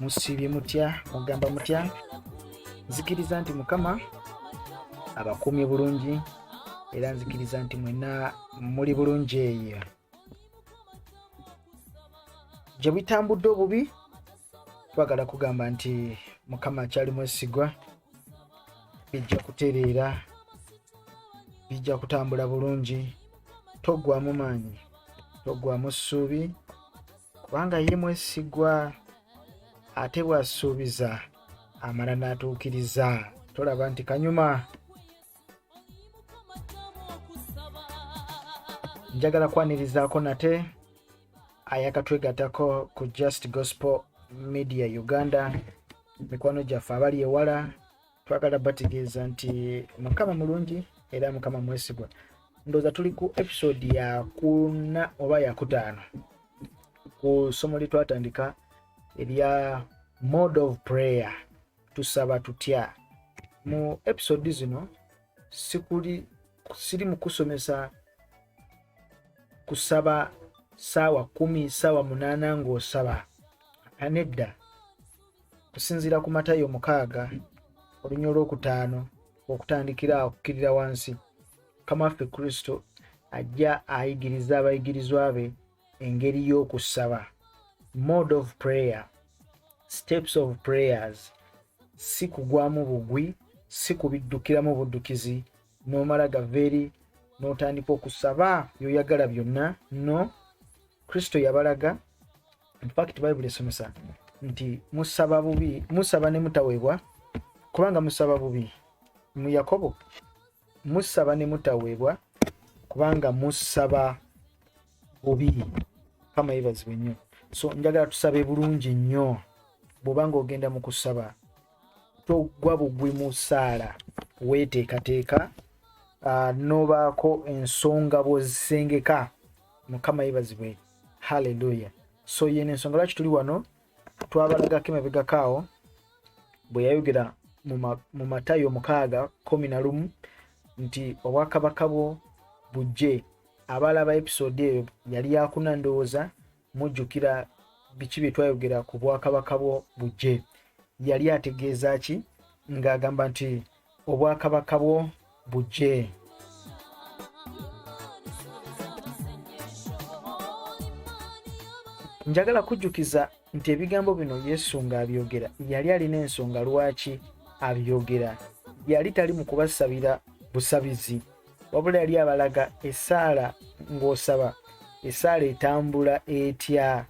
musiibye mutya mugamba mutya nzikiriza nti mukama abakuumye bulungi era nzikiriza nti mwena muli bulungi eyo gye bitambudde obubi twagala kugamba nti mukama akyali mwesigwa bijja kutereera bijja kutambula bulungi toggwamu maanyi toggwamu ssuubi kubanga ye mwesigwa ate bw'asuubiza amala n'atuukiriza tolaba nti kanyuma njagala kwanirizaako nate ayakatwegatako ku just gospel media uganda mikwano gyaffe abali ewala twagala bategeeza nti mukama mulungi era mukama mwesigwa ndooza tuli ku episode yakuna oba yakutaano ku ssomo lyetwatandika erya mode of prayer tusaba tutya mu episode zino sikuli siri mukusomesa kusaba saawa kumi saawa munaana ngaosaba anedda kusinziira ku matayo mukaaga olunya olwokutaano okutandikira okukkirira wansi mukama waffe kristo ajja ayigiriza abayigirizwa be engeri y'okusaba mode of prayer steps of prayers si kugwamu bugwi si kubiddukiramu buddukizi n'omala gava eri n'otandika okusaba byoyagala byonna no kristo yabalaga in fact bible esomesa nti musaba bubi musaba ne mutaweebwa kubanga musaba bubi mu yakobo musaba ne mutaweebwa kubanga musaba bubi kama yebazibwe nnyo so njagala tusabe bulungi nnyo bwobanga ogenda mu kusaba togwa bugwi mu saala weteekateeka uh, nobaako ensonga bwozisengeka mukama yebazibwe haleluya so yene ensonga lwaki tuli wano twabalagako emabegako awo bwe yayogera mu matayo mukaaga kumi na lumu nti obwakabaka bwo bujje abaalaba episode eyo yali yakuna ndowooza mujjukira biki bye twayogera ku bwakabaka bwo bujje yali ategeeza ki ng'agamba nti obwakabaka bwo bujje njagala kujjukiza nti ebigambo bino yesu ng'abyogera yali alina ensonga lwaki abyogera yali tali mu kubasabira busabizi wabula yali abalaga esaala ng'osaba esaala etambula etya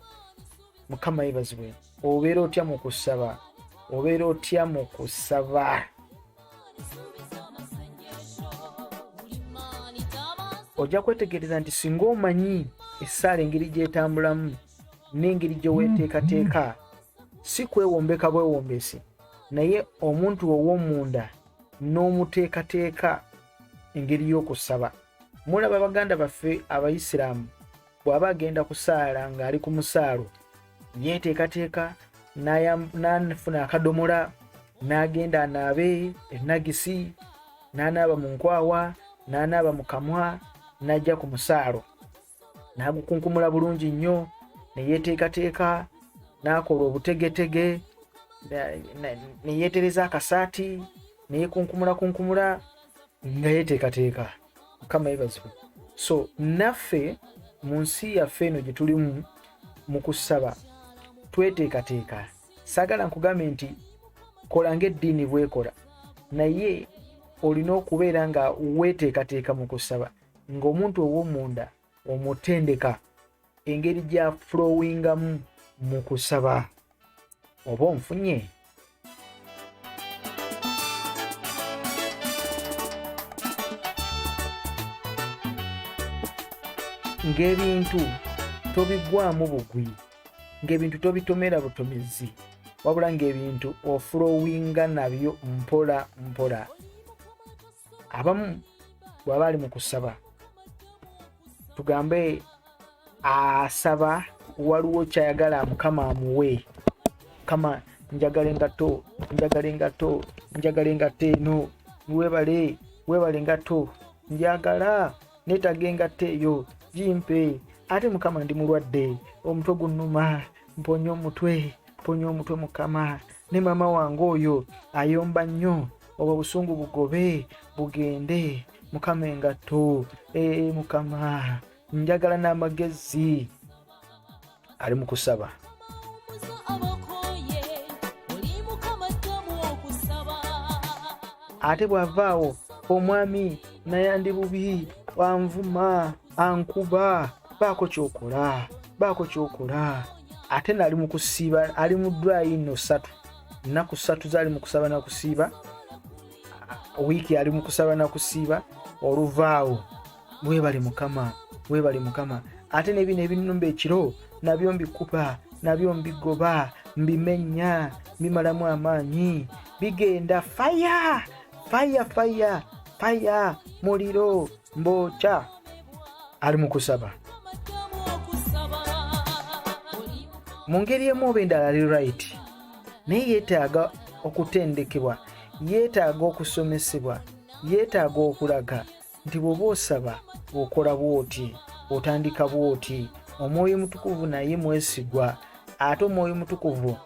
mukama yebazibwe obeera otya mu kusaba obeera otya mu kusaba ojja kwetegereza nti singa omanyi essaala engeri gyetambulamu n'engeri gyeweteekateeka si kwewombeka bwewombesi naye omuntu ow'omunda n'omuteekateeka engeri y'okusaba mulaba baganda baffe abayisiraamu bw'aba agenda kusaala ng'ali ku musaalo yeeteekateeka n'afuna akadomola n'agenda anaabe enagisi n'anaaba mu nkwawa n'anaaba mu kamwa n'ajja ku musaalo n'agukunkumula bulungi nnyo ne yeeteekateeka n'akola obutegetege ne yeetereza akasaati ne yeekunkumulakunkumula nga yeeteekateeka mukama yebazibwe so naffe mu nsi yaffe eno gye tulimu mu kusaba tweteekateeka sagala nkugambe nti kola ngaeddiini bwekola naye olina okubeera nga weteekateeka mu kusaba ngaomuntu owomunda omutendeka engeri gya flowingamu mu kusaba oba onfunye ng'ebintu tobigwamu bugwi ng'ebintu tobitomera butomezi wabula ng'ebintu ofulowinga nabyo mpola mpola abamu bwaba ali mu kusaba tugambe asaba waliwo kyayagala mukama amuwe mukama njagala engato njagala engato njagala engato eno webale webale engato njagala netaga engato eyo gimpe ate mukama ndi mulwadde omutwe gunnuma mponya omutwe mponya omutwe mukama ne mama wange oyo ayomba nnyo obwo busungu bugobe bugende mukama engatto ee mukama njagala n'amagezi ali mu kusaba ate bw'avaawo omwami nayandi bubi wanvuma ankuba baako kyokola baako kyokola ate naali mu kusiiba ali mu dwayi no satu nnaku satu zaali mu kusaba na kusiiba wiiki ali mu kusaba na kusiiba oluvaawo webale mukama webale mukama ate nebino ebinumba ekiro nabyo mbikuba nabyo mbigoba mbimenya mbimalamu amaanyi bigenda faya faya faya faya muliro mbu kya ali mu kusaba mu ngeri emu oba endala ali right naye yeetaaga okutendekebwa yeetaaga okusomesebwa yeetaaga okulaga nti bw'oba osaba okola bw'oti otandika bw'oti omwoyo omutukuvu naye mwesigwa ate omwoyo mutukuvu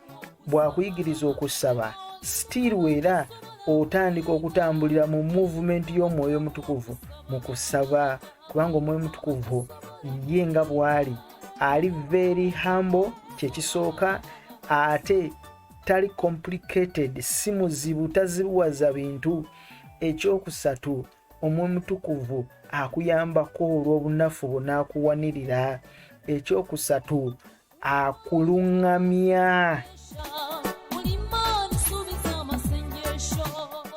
bw'akuyigiriza okusaba sitiiru era otandika okutambulira mu muvumenti y'omwoyo mutukuvu mu kusaba kubanga omwoyo mutukuvu ye nga bw'ali ali very humble kyekisooka ate tali complicated si muzibu tazibuwaza bintu ekyokusatu Omwoyo Omutukuvu akuyambako olw'obunafu bwo n'akuwanirira. Ekyokusatu, akuluŋŋamya.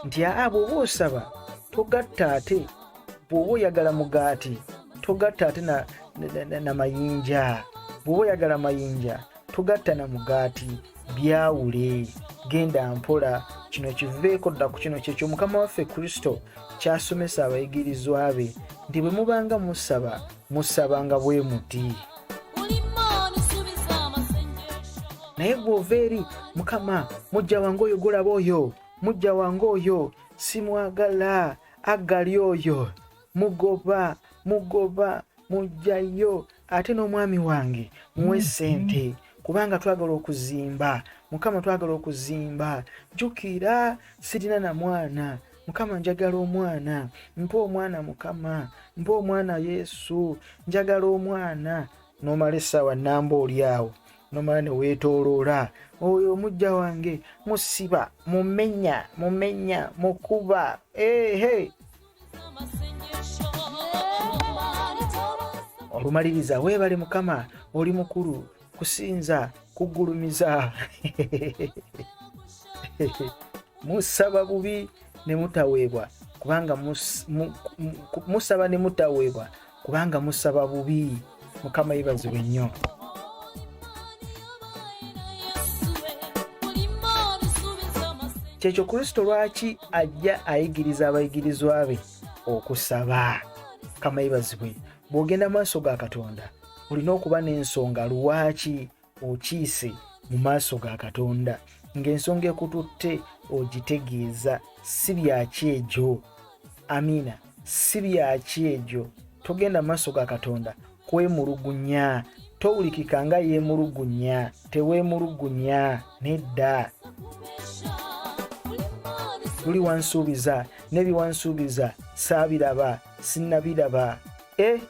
Nti aa bw'oba osaba togatta ate bw'oba oyagala mugaati togatta ate na mayinja bw'oba oyagala mayinja togatta na mugaati byawule genda mpola kino kiveeko dda ku kino kyekyo mukama waffe kristo kyasomesa abayigirizwa be nti bwe mubanga musaba musabanga bwe muti naye gweova eri mukama mujja wange oyo gulaba oyo mujja wange oyo simwagala agali oyo mugoba mugoba mujjayo ate n'omwami wange muwe mm-hmm. sente kubanga twagala okuzimba mukama twagala okuzimba jukira sirina na mwana mukama njagala omwana mpa omwana mukama mpa omwana yesu njagala omwana nomala essaawa namba oli awo nomala neweetoloola oyo omujja wange musiba mumenya mumenya mukuba ehe hey, hey. olumaliriza weebale mukama oli mukulu kusinza kugulumiza musaba bubi ne mutaweebwa kubanga musaba ne mutaweebwa kubanga musaba bubi mukama yebazibwe nnyo kyekyo kristo lwaki ajja ayigiriza abayigirizwa be okusaba kama yebazibwe bw'ogenda maaso ga katonda olina okuba n'ensonga lwaki okiise mu maaso ga katonda ng'ensonga ekututte ogitegeeza si byaki egyo amiina si byaki egyo togenda mu maaso ga katonda kwemulugunya towulikika nga yeemulugunya teweemulugunya nedda luli wansuubiza nebiwansuubiza saabiraba sinnabiraba eh?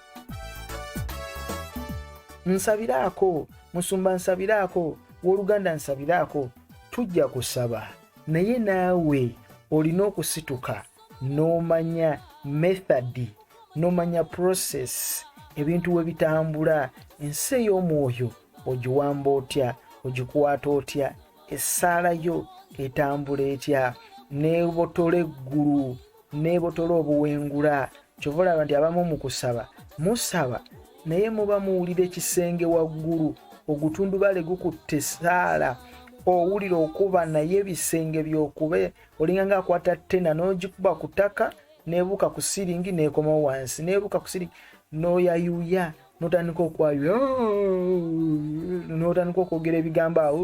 nsabiraako musumba nsabiraako woluganda nsabiraako tujja kusaba naye naawe olina okusituka n'omanya method n'omanya process ebintu we bitambula ensi ey'omwoyo ogiwamba otya ogikwata otya essaala yo etambula etya neebotola eggulu neebotola obuwengula kyova olaba nti abamu mu kusaba musaba naye muba muwulira ekisenge waggulu ogutundubale gukutte saala owulira okuba naye ebisenge byokube olinga nga akwata ttena n'ogikuba ku ttaka nebuuka ku siringi nekomawo wansi nebuuka ku siringi noyayuya notandika okwayuya notandika okwogera ebigambo awo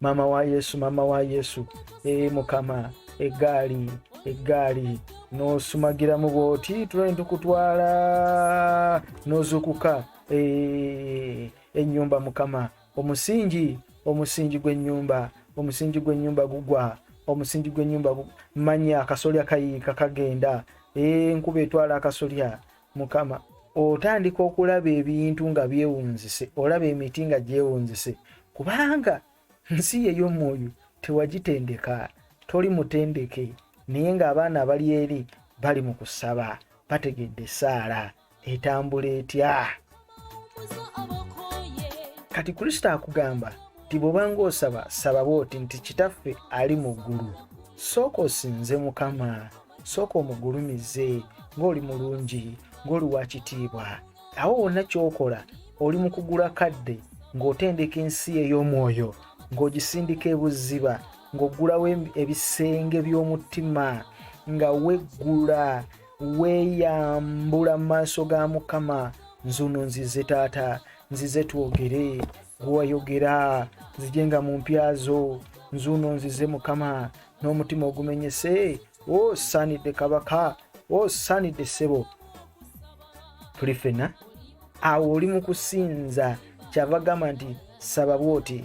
maama wa yesu maama wa yesu ee mukama eggaali eggaali n'osumagiramu bw'oti tulani tukutwala n'ozuukuka ee ennyumba mukama omusingi omusingi gw'ennyumba omusingi gw'ennyumba gugwa omusingi gw'ennyumba manya akasolya kayiika kagenda enkuba etwala akasolya mukama otandika okulaba ebintu nga byewunzise olaba emiti nga gyewunzise kubanga nsi yeyomwoyo tewagitendeka toli mutendeke naye ngaabaana abali eri bali mu kusaba bategedde esaala etambula etya kati kristo akugamba nti bwoba ng'osaba saba bwoti nti kitaffe ali mu ggulu sooka osinze mukama sooka omugulumize ng'oli mulungi ng'oli wa kitiibwa awo wonna ky'okola oli mu kugula kadde ng'otendeka ensi ey'omwoyo ng'ogisindika ebuziba ng'oggulawo ebisenge by'omutima nga weggula weeyambula mu maaso ga mukama nzuno nzize taata nzize twogere gwewayogera nzije nga mu mpya zo nzuno nzize mukama n'omutima ogumenyese osaanidde kabaka osaanidde ssebo tuli fena awo oli mu kusinza kyava gamba nti saba bwoti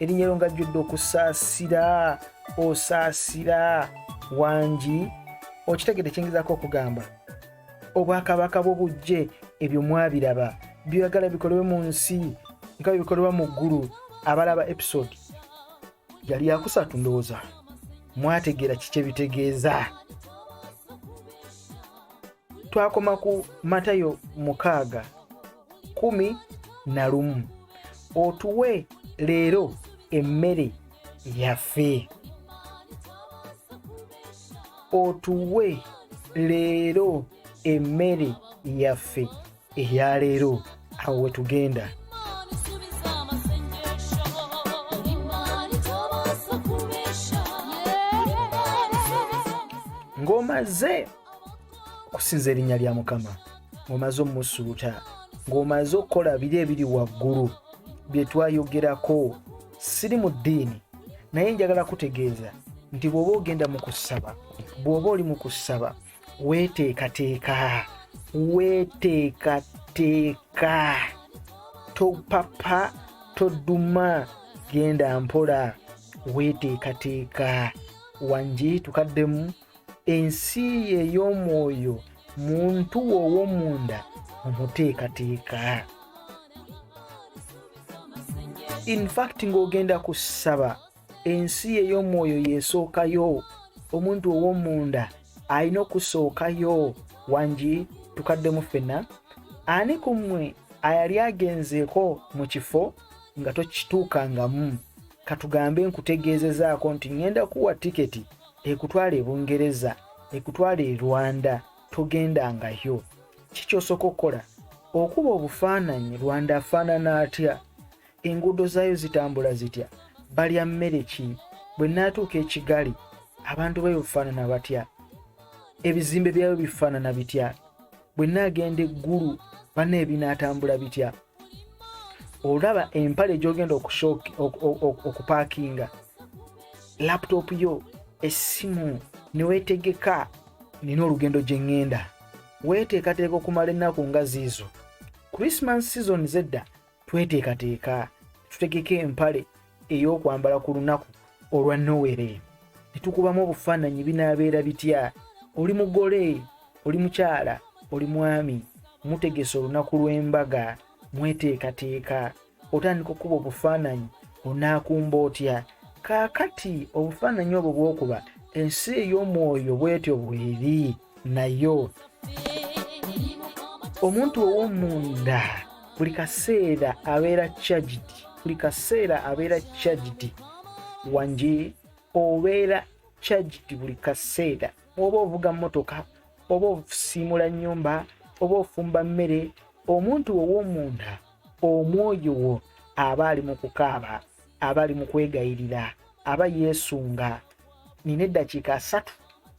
erinnya lyo ngajjudde okusaasira osaasira wangi okitegede kiyingizaako okugamba obwakabaka bwo bujje ebyo mwabiraba byoyagala bikolebwe mu nsi nga byebikolebwa mu ggulu abalaba episode yali yakusatu ndowooza mwategeera kiki ebitegeeza twakoma ku matayo mukaaga kumi na lumu otuwe leero emmere yaffe otuwe leero emmere yaffe eya leero awo wetugenda ng'omaze kusinza erinnya lya mukama ng'omaze omusuuta ng'omaze okukola biri ebiri waggulu bye twayogerako siri mu ddiini naye njagala kutegeeza nti bw'oba ogenda mu kusaba bw'oba oli mu kusaba weeteekateeka weeteekateeka topapa toduma genda mpola weeteekateeka wangi tukaddemu ensi ye ey'omwoyo muntu wo ow'omunda omuteekateeka infact ng'ogenda ku ssaba ensi ye ey'omwoyo yesookayo omuntu ow'omunda alina okusookayo wangi tukaddemu ffenna ani ku mmwe ayali agenzeeko mu kifo nga tokituukangamu katugambe nkutegeezezaako nti ŋŋenda kuwa tiketi ekutwala e bungereza ekutwala e rwanda togendangayo kikyosooka okukola okuba obufaananyi rwanda afaanana atya enguudo zaayo zitambula zitya balya mmere ki bwe naatuuka ekigali abantu bayo bufaanana batya ebizimbe byayo bifaanana bitya bwe naagenda eggulu bana ebinaatambula bitya olaba empale gyogenda okupakinga laptop yo essimu newetegeka nina olugendo gye ŋŋenda weeteekateeka okumala ennaku nga ziizo christmas season zedda tweteekateeka tutegeka empale ey'okwambala ku lunaku olwa nowere ne tukubamu obufaananyi binaabeera bitya oli mugole oli mukyala oli mwami mutegese olunaku lw'embaga mweteekateeka otandika okukuba obufaananyi onaakumba otya kaakati obufaananyi obwo bwokuba ensi ey'omwoyo bwetyo bweri naye omuntu ow'omunda buli kaseera abeera charged buli kaseera abeera charged wangi obeera charged buli kaseera oba ovuga mmotoka oba ofusiimula nnyumba oba ofumba mmere omuntu ow'omunda omwoyo wo aba ali mu kukaaba abali mu kwegayirira aba yeesunga nina eddakiika asatu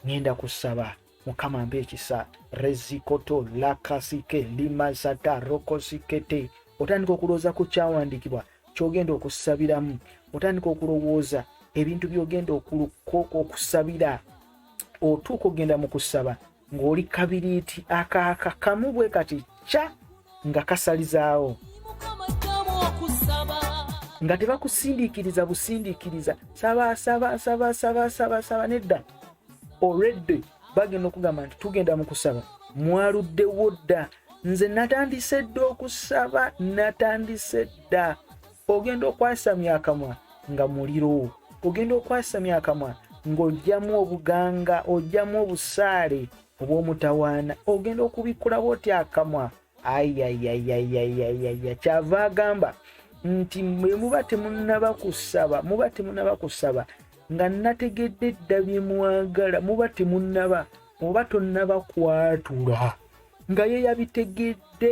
ngenda kusaba mukama mpa ekisa rezikoto lakasike limasata rokosikete otandika okulowooza ku kyawandiikibwa kyogenda okusabiramu otandika okulowooza ebintu byogenda okusabira otuuka ogenda mu kusaba ng'oli kabiriiti akaaka kamu bwe kati kya nga kasalizaawo nga tebakusindiikiriza busindiikiriza sabasabasabasabasabasaaba nedda olwedde bagenda okugamba nti tugenda mu kusaba mwaluddewo dda nze natandise dda okusaba natandise dda ogenda okwasamya akamwa nga muliro ogenda okwasamya akamwa ng'ojjamu obuganga ojjamu obusaale obw'omutawaana ogenda okubikkulawo otya akamwa ayayayayayayaya kyava agamba nti mwe muba temunaba kusaba muba temunaba kusaba nga nategedde dda bye mwagala muba temunaba oba tonnaba kwatula nga ye yabitegedde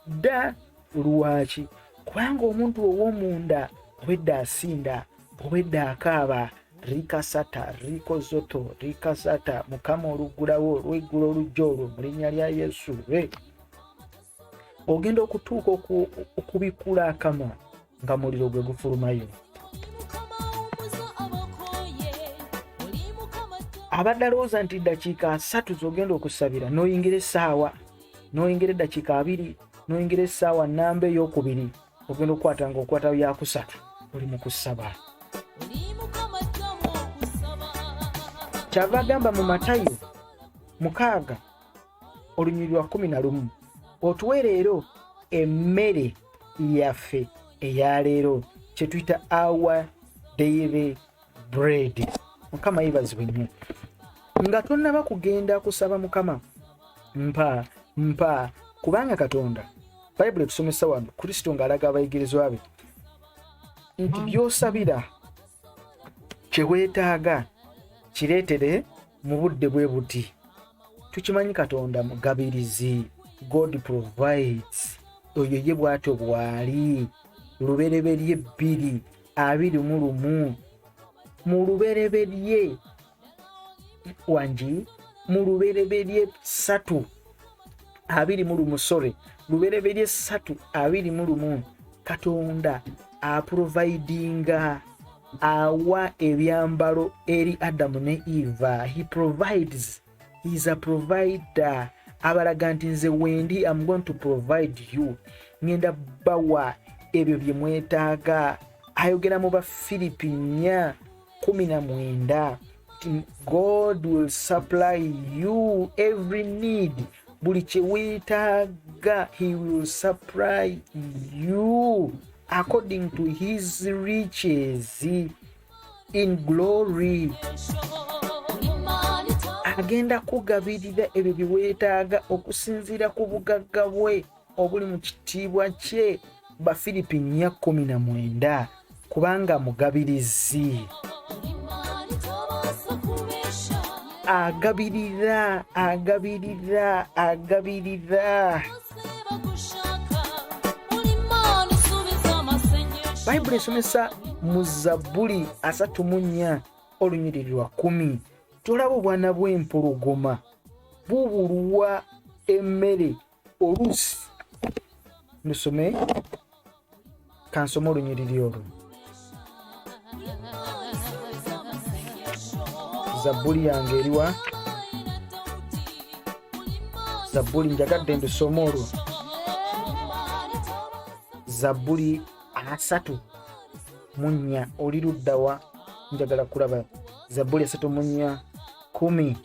dda lwaki kubanga omuntu ow'omunda obwedda asinda obwedda akaaba rikasata rikozoto rikasata mukama oluggulawo olweggula olujja olwo mu linnya lya yesu re ogenda okutuuka okubikula akamwa nga muliro gwe gufulumayo abadde alowooza nti ddakiika asatu zogenda okusabira noyingira essaawa noyingira eddakiika abiri noyingira essaawa namba eyokubiri ogenda okukwata nga okwata yakusatu oli mu kusaba kyava agamba mu matayo mukaaga olunyiriri lwa kumi na lumu otuwe leero emmere yaffe eya leero kyetuyita our daily bread mukama yebazibwe nnyo nga tonnaba kugenda kusaba mukama mpa mpa kubanga katonda bayibuli etusomesa wano kristo ng'alaga abayigirizwa be nti byosabira kye weetaaga kireetere mu budde bwe buti tukimanyi katonda mugabirizi god provides oyo ye bwatyo bwali lubereberye bbiri abiri mu lumu mu lubereberye wangi mu lubereberye satu abiri mu lumu sorry lubereberye satu abiri mu lumu katonda aprovidinga awa ebyambalo eri adamu ne eva he provides he is a provider abalaga nti nze wendi am going to provide you ngenda bawa ebyo bye mwetaaga ayogera mu bafiripi nnya kumi na mwenda god will supply you every need buli kyewetaaga he will supply you according to his riches in glory agenda kugabirira ebyo byewetaaga okusinziira ku bugagga bwe obuli mu kitiibwa kye bafiripi nnya kkumi na mwenda kubanga mugabirizi agabirira agabirira agabirira bayibuli esomesa mu zabbuli asatu mu nnya olunyiriri lwa kumi tolaba obwana bw'empologoma bubulwa emmere oluusi lusome kansoma olunyiriri olwo zabbuli yange eriwa zabbuli njagadde ndusoma olwo zabbuli asatu mu nnya oli luddawa njagala kulaba zabbuli asatu mu nnya kumi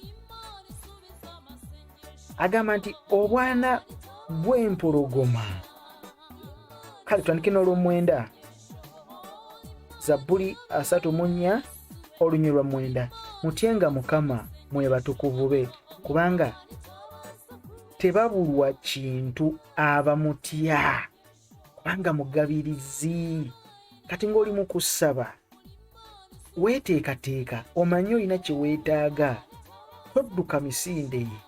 agamba nti obwana bw'empologoma kale tutandike n'olwomwenda zabbuli asatu mu nnya olunywi lwa mwenda mutyenga mukama mwe batukuvu be kubanga tebabulwa kintu abamutya kubanga mugabirizi kati ng'oli mu kussaba weeteekateeka omanyi olina kye weetaaga todduka misinde ye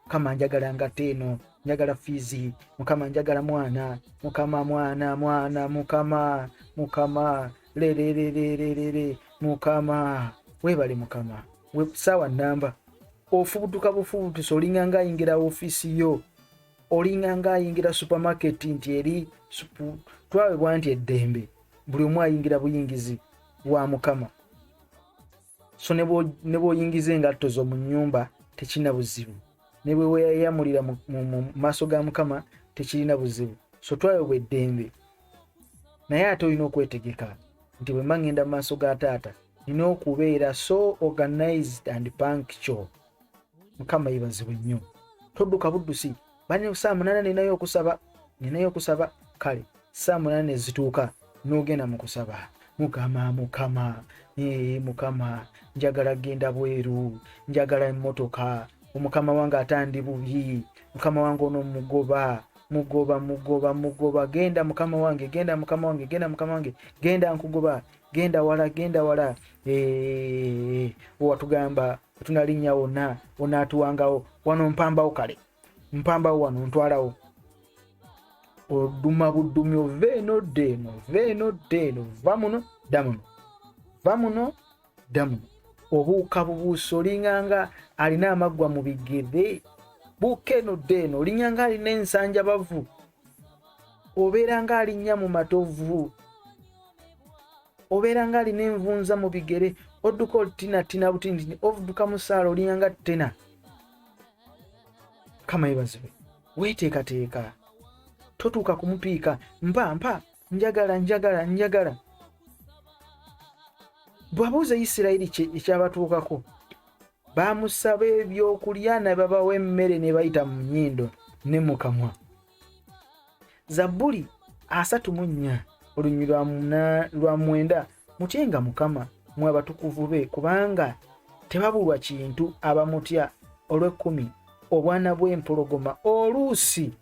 mukama njagala ngate eno njagala fiizi mukama njagala mwana mukama mwana mwana mukama mukama lererererere mukama weebale mukama saawa namba ofubutuka bufubutusi olinganga ayingira ofiisi yo olinga nga ayingira supermarket nti eri supu twawebwa nti eddembe buli omu ayingira buyingizi bwa mukama so ne bwoyingiza engatto zo mu nyumba tekirina buzibu ne bwe weyayamulira mu maaso ga mukama tekirina buzibu so twawebwa eddembe naye ate olina okwetegeka nti bwe mba ŋŋenda mu maaso ga taata nina okubeera so organized and punctual mukama yebazibwe nnyo todduka buddusi bane saa munana ninayo okusaba ninayo okusaba kale saa munana nezituuka n'ogenda mu kusaba mukama mukama ee mukama njagala genda bweru njagala emmotoka omukama wange atandi bubi mukama wange ono mugoba mugoba mugoba mugoba genda mukama wange genda mukama wange genda mukama wange genda nkugoba genda wala genda wala ee owatugamba tunalinnya wonna onaatuwangawo wano mpambawo kale mpambawo wano ntwalawo oduma budumi ova eno dda eno ova eno dda eno va muno dda muno va muno dda muno obuuka bubuusa olinganga alina amaggwa mu bigere buuka eno dda eno olinyanga alina ensanja bavu obeera nga alinnya mu matovu obeera nga alina envunza mu bigere odduka olutinatina butindini ovuduka musaala olinga nga tena kama yebazibe weteekateeka totuuka kumupiika mpa mpa njagala njagala njagala bwabuuza isirayiri ekyabatuukako bamusaba ebyokulya nababawa emmere nebayita mu nyindo ne mukamwa zabbuli asatu mu nnya olunywi lwa mwenda mutyenga mukama mwe abatukuvu be kubanga tebabulwa kintu abamutya olw'ekkumi obwana bw'empologoma oluusi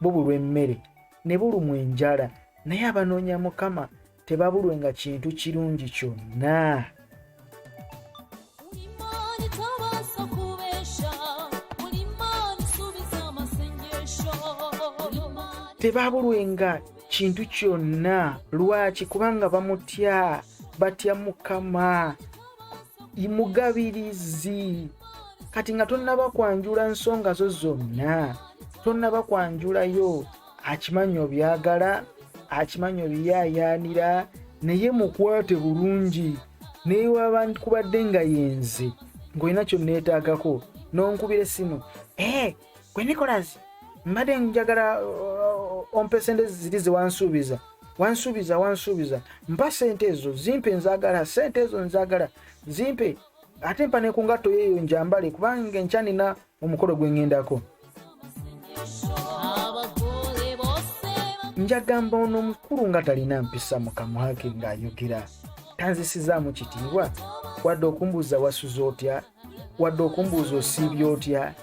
bubulwa emmere ne bulumwa enjala naye abanoonya mukama tebabulwenga kintu kirungi kyonna tebabulwenga kintu kyonna lwaki kubanga bamutya batya mukama imugabirizi kati nga tonnaba kwanjula nsonga zo zonna tonnaba kwanjulayo akimanyi obyagala akimanyi obiyayaanira naye mukwate bulungi naye waba kubadde nga yenze ng'olina kyonneetaagako n'onkubira essimu ee eh, gwe nicolas mbadde njagala uh, ompa esente ziri zewansuubiza wansuubiza wansuubiza mpa sente ezo zimpe nzagala sente ezo nzagala zimpe ate mpa nekungatto yeeyo njambale kubanga enkyanina omukolo gwengendako njagamba ono omukulu nga talina mpisa mukamwake ng'ayogera tanzisizaamu kitiibwa wadde okumbuuza wasuza otya wadde okumbuuza osiibya otya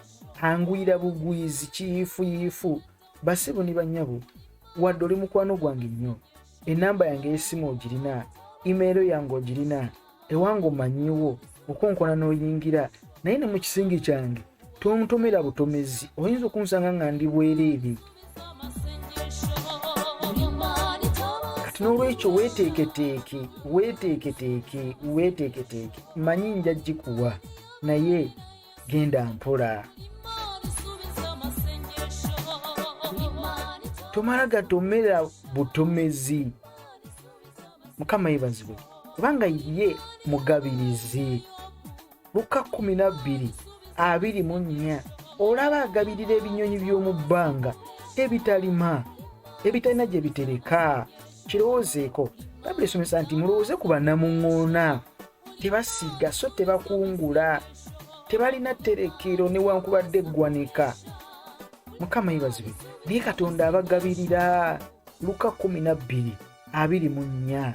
angwira bugwizi kiyiifuyiifu basibu ni banyabo wadde oli mukwano gwange nnyo enamba yange eyesimu ogirina imeero yange ogirina ewange omanyiwo okonkona n'oyingira naye ne mu kisingi kyange tontomera butomezi oyinza okunsanga nga ndi bwereere kati n'olwekyo weeteeketeeke weeteeketeeke weeteeketeeke manyi nja gikuwa naye genda mpola tomala gatomerera butomezi mukama yebazibwe kubanga ye mugabirizi luka 12 abiri mu nnya olaba agabirira ebinyonyi by'omu bbanga ebitalima ebitalina gye bitereka kirowoozeeko bayibuli esomesa nti mulowooze ku banamuŋoona tebasiga so tebakungula tebalina tterekero newankubadde eggwanika mukama yebazibwe naye katonda abagabirira luka 12:24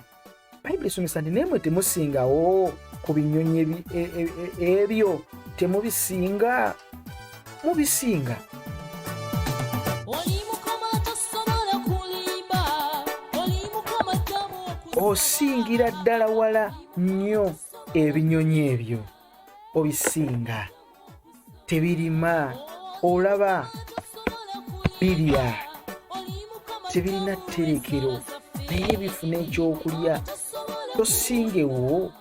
bayibuli esomesa nti naye mwe temusingawo ku binyonyi e, e, e, ebyo temubisinga mubisinga osingira ddala wala nnyo ebinyonyi ebyo obisinga tebirima olaba birya tebirina tterekero naye bifuna ekyokulya tosingewo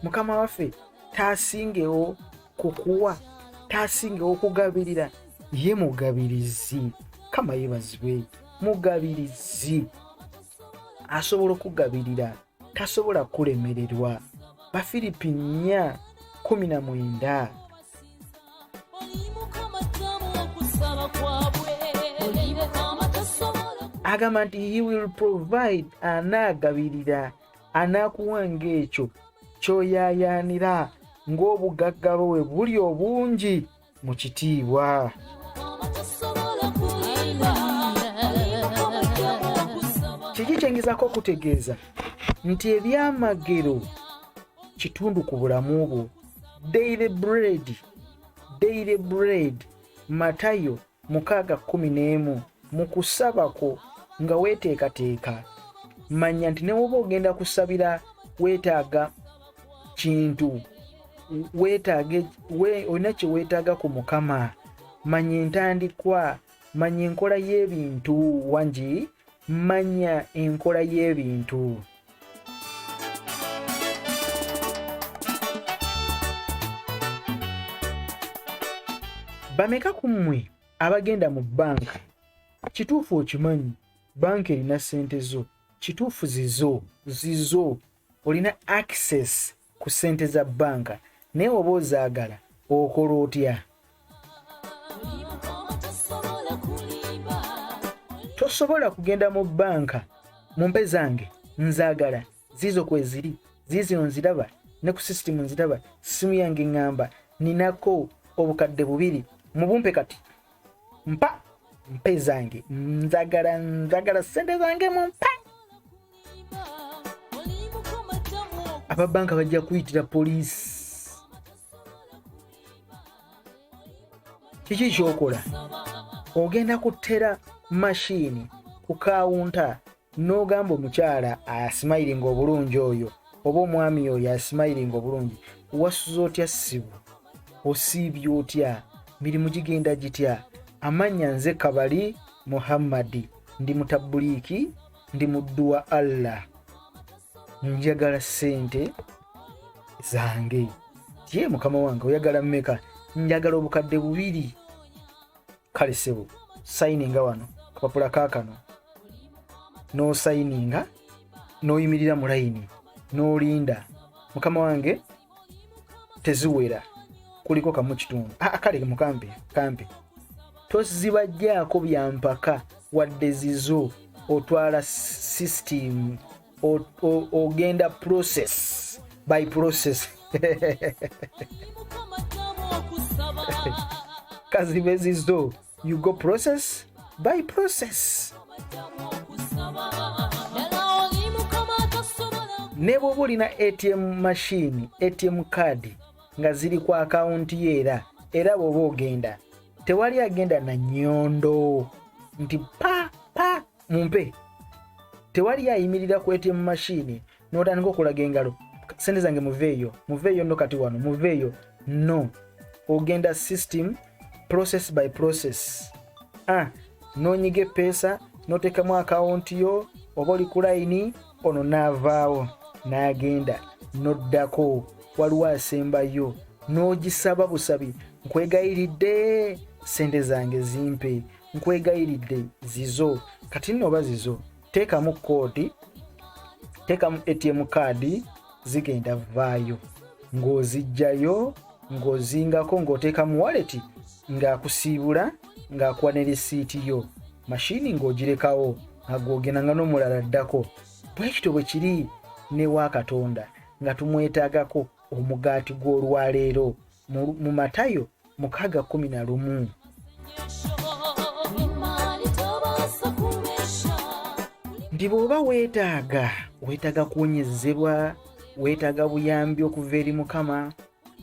mukama waffe tasingewo kukuwa tasingewo kugabirira ye mugabirizi kama yebazibwe mugabirizi asobola okugabirira tasobola kulemererwa bafiripi 4 19 agamba nti he will provide anaagabirira anaakuwa ng'ekyo kyoyaayaanira ng'obugagga bwe buli obungi mu kitiibwa kiki kyengezako okutegeeza nti ebyamagero kitundu ku bulamu bwo daily bread daily bread matayo mukaaga kumi n'emu mu kusaba kwo nga weeteekateeka manya nti newoba ogenda kusabira weetaaga kintu wetage we, olina kyewetaaga ku mukama manya entandikwa manya enkola y'ebintu wangi manya enkola y'ebintu bameka ku mmwe abagenda mu banka kituufu okimanyi banka erina ssente zo kituufu zizo zizo olina access ku ssente za bbanka naye oba ozaagala okola otya tosobola kugenda mu bbanka mu mpe zange nzaagala ziizo kweziri ziizino nziraba ne ku sisitimu nziraba sisimu yange ŋŋamba ninako obukadde bubiri mubumpe kati mpa mpe zange nzagala nzagala sente zange mu mpa ababanka bajja kuyitira poliisi kiki kyokola ogenda kutera mashini ku kawunta n'ogamba omukyala asimayiringa obulungi oyo oba omwami oyo asimayiringa obulungi wasuza otya sibu osiibye otya mirimu gigenda gitya amannya nze kabali muhammadi ndi mutabuliiki ndi muddu wa allah njagala ssente zange ye mukama wange oyagala mmeka njagala obukadde bubiri kale sebo sayininga wano kapapula kakano nosayininga noyimirira mu layini nolinda mukama wange teziwera kuliko kamu kitundu ah, ah, kale mukampi kampi tozibajjaako byampaka wadde zizo otwala sisitimu ogenda process by process kazibezi zo you go process by process ne bwoba olina atm mashini atm card nga ziri ku akawunti yo era era bwoba ogenda tewali agenda na nyondo nti pa pa mumpe tewali yayimirira ku ATM machine n'otandika okulaga engalo sente zange muveeyo muveeyo no kati wano muveeyo no ogenda system process by process ah, nonyiga epeesa notekamu akawunti yo oba oli ku layini ono naavaawo n'agenda noddako waliwo asembayo n'ogisaba busabi nkwegayiridde sente zange zimpe nkwegayiridde zizo kati nno oba zizo teekamu koodi teekamu atm kaadi zigenda vaayo ng'ozijjayo ng'ozingako ng'oteeka mu waleti ng'akusiibula ng'akuwa ne lisiiti yo mashini ng'ogirekawo nga gwogenda nga n'omulala addako bwekityo bwe kiri newa katonda nga tumwetagako omugaati gw'olwaleero mu matayo mukaaga kumi na lumu nti bw'oba weetaaga weetaaga kuwonyezebwa weetaaga buyambi okuva eri mukama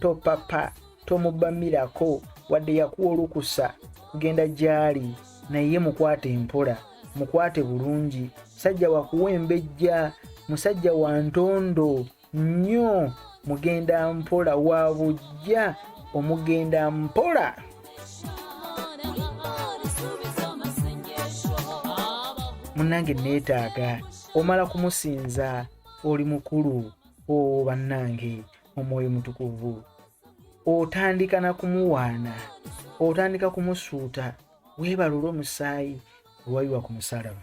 topapa tomubamirako wadde yakuwa olukusa kugenda gy'ali naye mukwate mpola mukwate bulungi musajja wakuwa embejja musajja wa ntondo nnyo mugenda mpola wa bujja omugenda mpola munange neetaaga omala kumusinza oli mukulu owo bannange omwoyo mutukuvu otandika na kumuwaana otandika kumusuuta weebalula omusaayi wewayiwa ku musalaba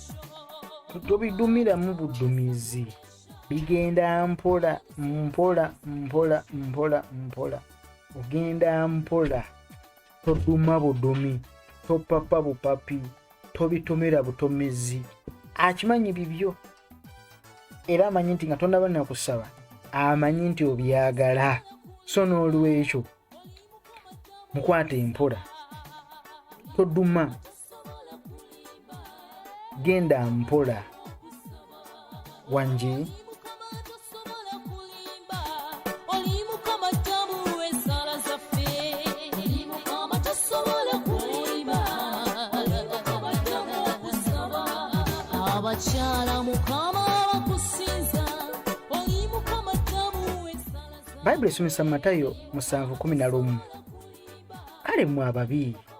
tobidumiramu budumizi bigenda mpola mpola mpola mpola mpola ogenda mpola toduma budumi topapa bupapi tobitomera butomezi akimanyi bibyo era amanyi nti nga tonaba nakusaba amanyi nti obyagala so n'olwekyo mukwata empola toduma genda mpola wangi bayibuli esomesa mu matayo musanvu kumi na lumu kale mwe ababi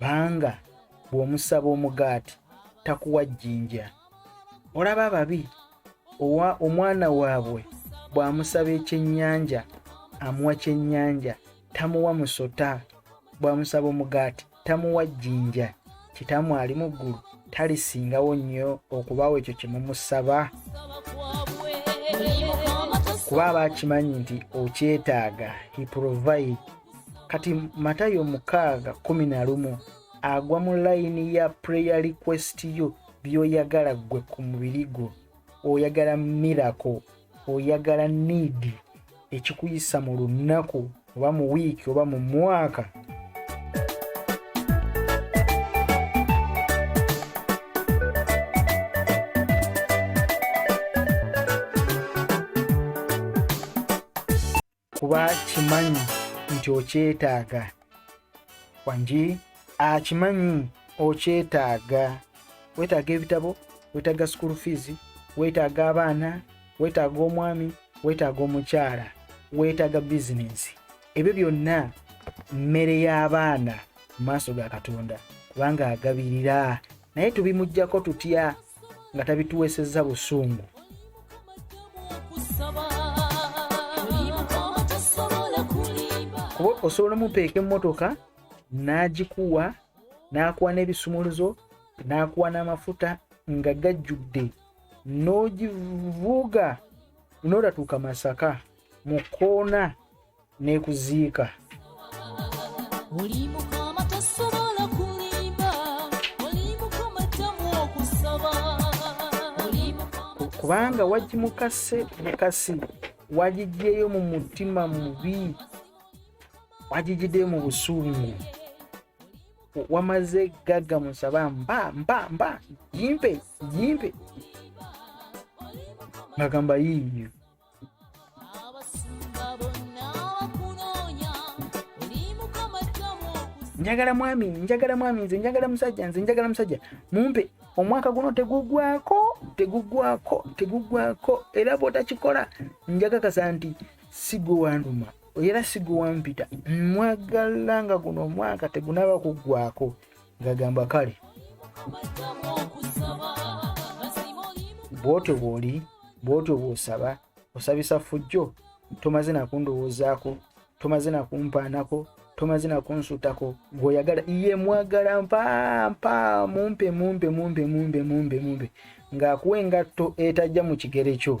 banga bw'omusaba omugaati takuwa jjinja olaba ababi owa omwana waabwe bw'amusaba ekyennyanja amuwa kyennyanja tamuwa musota bw'amusaba omugaati tamuwa jjinja kitamu ali mu ggulu talisingawo nnyo okubaawo ekyo kye mumusaba kuba aba akimanyi nti okyetaaga he provide kati matayo mukaaga kumi na lumu agwa mu layini ya prayer request yo byoyagala ggwe ku mubiri gwo oyagala mirako oyagala niidi ekikuyisa mu lunaku oba mu wiiki oba mu mwaka kuba kimanyi nti okyetaaga wangi akimanyi okyetaaga wetaaga ebitabo wetaaga school fees wetaaga abaana wetaaga omwami wetaaga omukyala wetaaga bizinensi ebyo byonna mmere y'abaana mu maaso ga katonda kubanga agabirira naye tubimujjako tutya nga tabituweesezza busungu kuba osobola omupeeka emmotoka n'agikuwa n'akuwa n'ebisumuluzo n'akuwa n'amafuta nga gajjudde n'ogivuuga noolatuuka masaka mu kkoona n'ekuziika kubanga wagimukase mukasi wagigyeyo mu mutima mubi wagigiddeyo mu busungu wamaze gagga musaba mba mba mba jimpe jimpe ngagamba yiiyo njagala mwami njagala mwami nze njagala musajja nze njagala musajja mumpe omwaka guno tegugwako tegugwako tegugwako era bwotakikola njagakasa nti sigwe wanuma era sigwe wampita mwagala nga guno omwaka tegunaba kuggwako ngagamba kale bwotyo bwoli bwotyo bwosaba osabisa fujjo tomaze nakundowoozaako tomaze nakumpaanako tomaze nakunsutako gweoyagala iye mwagala mpampa mumpe mumpe mumpe mumpe mumpe mumpe ngaakuwa engatto etajja mu kigere kyo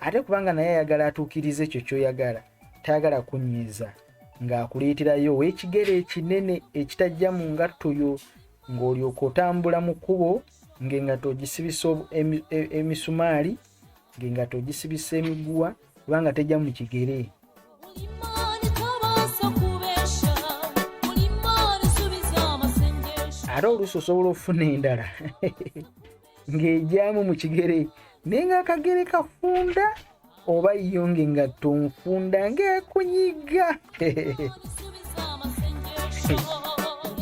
ate kubanga naye ayagala atuukiriza ekyo kyoyagala tayagala kunyiiza ng'akuleeterayo ow'ekigere ekinene ekitajja mu ngatto yo ng'olyoka otambula mu kkubo ng'engatto ogisibisa e-, emisumaali ng'engatto ogisibisa emiguwa kubanga tejja mu kigere ate oluusi osobola okufuna endala ng'egyamu mu kigere naye ng'akagere kafunda oba yo ng'engatto nfunda ng'ekunyiga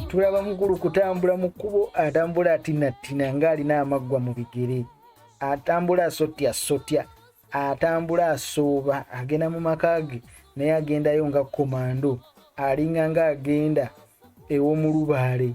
tulaba mukulu kutambula mu kkubo atambula atinattina ng'alina amaggwa mu bigere atambula asotya sotya atambula asooba agenda mu maka ge naye agendayo nga komando alinga nga agenda ew'omulubaale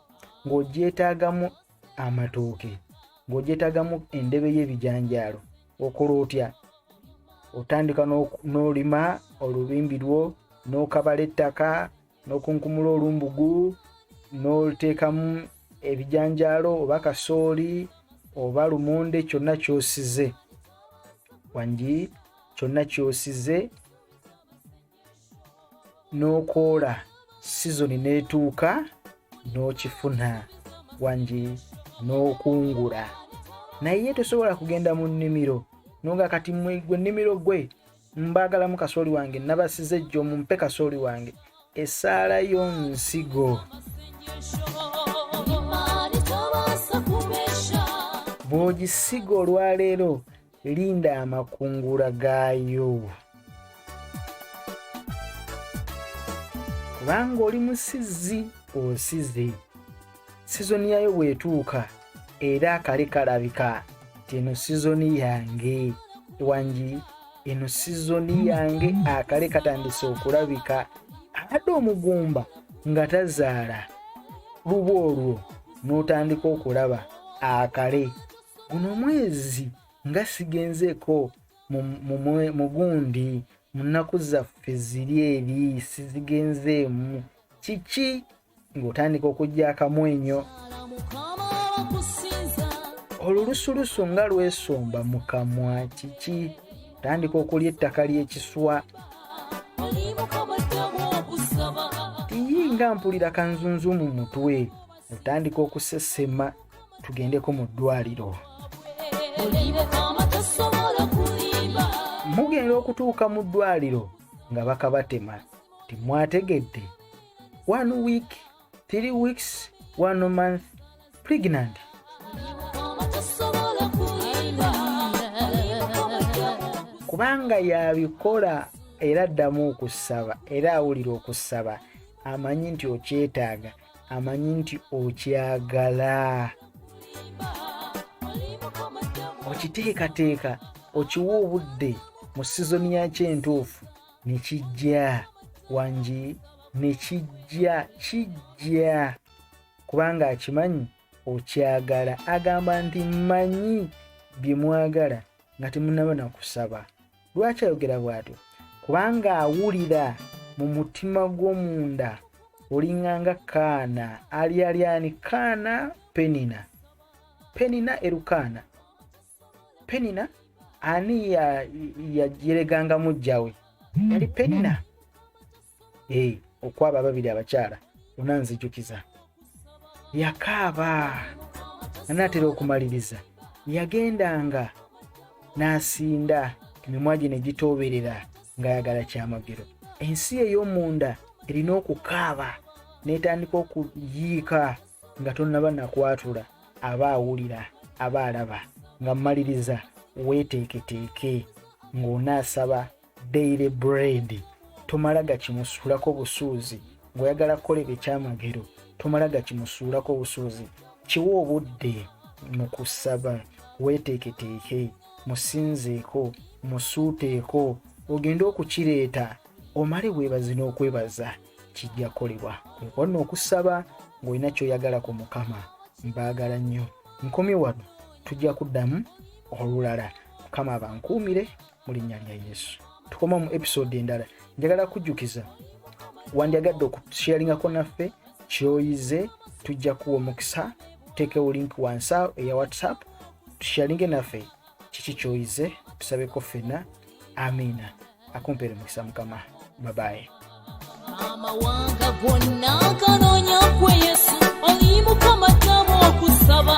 ng'ogyetaagamu amatooke ng'ogyetaagamu endebe y'ebijanjaalo okola otya otandika n'olima olubimbi lwo n'okabala ettaka n'okunkumula olumbugu n'oteekamu ebijanjaalo oba kasooli oba lumonde kyonna kyosize wangi kyonna kyosize n'okoola sizoni n'etuuka n'okifuna wangi n'okungula naye tosobola kugenda mu nnimiro nonga kati mwe gwe nnimiro gwe mbaagalamu kasooli wange nabasize ejjo mumpe kasooli wange esaala yo nsigo bw'ogisiga olwaleero linda amakungula gaayo kubanga oli musizzi osize sizoni yayo bwetuuka era akale kalabika ti eno sizoni yange wangi eno sizoni yange akale katandise okulabika abadde omugumba nga tazaala luba olwo n'otandika okulaba akale guno omwezi nga sigenzeeko mu gundi mu nnaku zaffe ziri eri sizigenzeemu kiki ng'otandika okujja akamwenyo olulusulusu nga lwesomba mu kamwa kiki tandika okulya ettaka ly'ekiswa tiyi nga mpulira kanzunzu mu mutwe otandika okusesema tugendeko mu ddwaliro mugenda okutuuka mu ddwaliro nga bakabatema temwategedde one week three weeks one month pregnant kubanga yabikola era addamu okusaba era awulira okusaba amanyi nti okyetaaga amanyi nti okyagala okiteekateeka okiwa obudde mu sizoni yakyo entuufu ne kijja wangi ne kijja kijja kubanga akimanyi okyagala agamba nti mmanyi bye mwagala nga temunaba na kusaba lwaki ayogera bw'atyo kubanga awulira mu mutima gw'omunda olinganga kaana alyalyani kaana penina penina erukaana penina ani yajeregangamu jjawe yali penina hey, okwaba ababiri abakyala ona nzijukiza yakaaba anaatera okumaliriza yagendanga n'asinda emimwa gye ne gitooberera ng'ayagala kyamagero ensi ey'omunda erina okukaaba n'etandika okuyiika nga tonnaba nakwatula aba awulira aba alaba nga mmaliriza weeteeketeeke ng'onaasaba daily bread tomala gakimusuulako busuuzi ng'oyagala kukola ebyo ekyamagero tomala gakimusuulako busuuzi kiwa obudde mu kusaba weeteeketeeke musinzeeko musuuteeko ogende okukireeta omale weebaze n'okwebaza kijja kukolebwa kwekwonna okusaba ng'olina kyoyagala ku mukama mbaagala nnyo nkomye wano tujja kuddamu olulala mukama abankuumire mu linnya lya yesu tukoma mu episode endala njagala kujjukiza wandyagadde okusheeringako naffe kyoyize tujja kuwa omukisa tuteekewo link wansa eya whatsapp tushearinge naffe kiki kyoyize tusabeko ffenna amiina akumpeere mukisa mukama babaye amawanga gonna ganonya kwe yesu oli mukama tamu okusaba